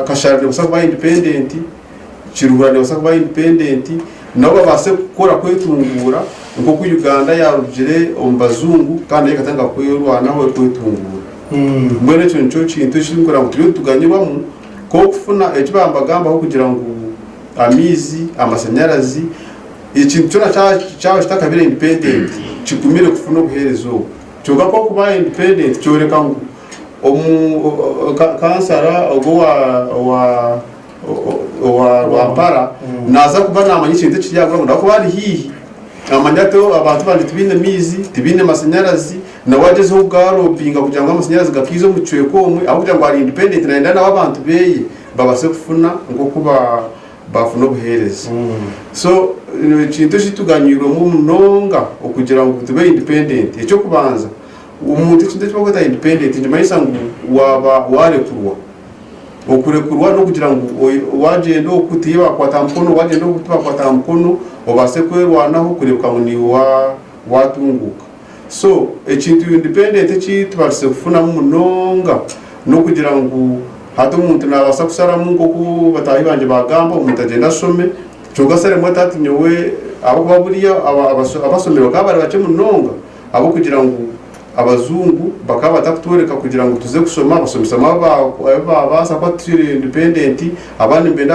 Kashare nebaasa kuba independent, Kiruhura nebaasa kuba independent nabo babaase kukora kwetunguura nk'oku Uganda yaarugire omu bazungu kandi nayo ekatandika kwerwanaho erikwetunguura. Mbwenu ekyo nikyo kintu ekirikureba ngu turiyo nituganyirwamu nk'okufuna eki baaba nibagambaho kugira ngu amaizi, amashanyarazi, ekintu kyona kyaba kitakabaire independent kigumire kufuna obuheereza obwo. Kyonka ku orikuba independent kyoreka ngu Omu kansara ogwo owa Rwampara naaza kuba naamanya ekintu ekiri aha gwanga ahabw'okuba ari haihi naamanya ati abantu bangye tibaine maizi, tibaine mashanyarazi nawe agyezeho kugarobinga kugira ngu amashanyarazi gakaize omu kicweka omwe ahabw'okugira ngu ari indipendenti naayenda ngu abantu be babaase kufuna nk'oku baafuna obuheereza. So ekintu eki tuganyirwemu munonga okugira ngu tube indipendenti, eky'okubanza Omuntu ekintu eki barikweta independent nikimanyisa ngu waaba waarekurwa. Okurekurwa n'okugira ngu waagyenda oku tihaihi baakukwata aha mukono, waagyenda oku tibaakukwata aha mukono, obaase kwerwanaho kureebeka ngu niiwe waatunguuka. So ekintu independent eki tubaasize kufunamu munonga n'okugira ngu hati omuntu naabaasa kusharamu nk'oku bataahi bangye baagamba omuntu agyende ashome kwonka shi arimwo ati hati nyowe ahabw'okuba buriya abashomire bakaba bari bakye munonga Ahabw'okugira ngu abazungu bakaba batakutworeka kugira ngu tuze kushoma, abashomesa bamwe abu baabaasa kuba turi independent, abandi nibenda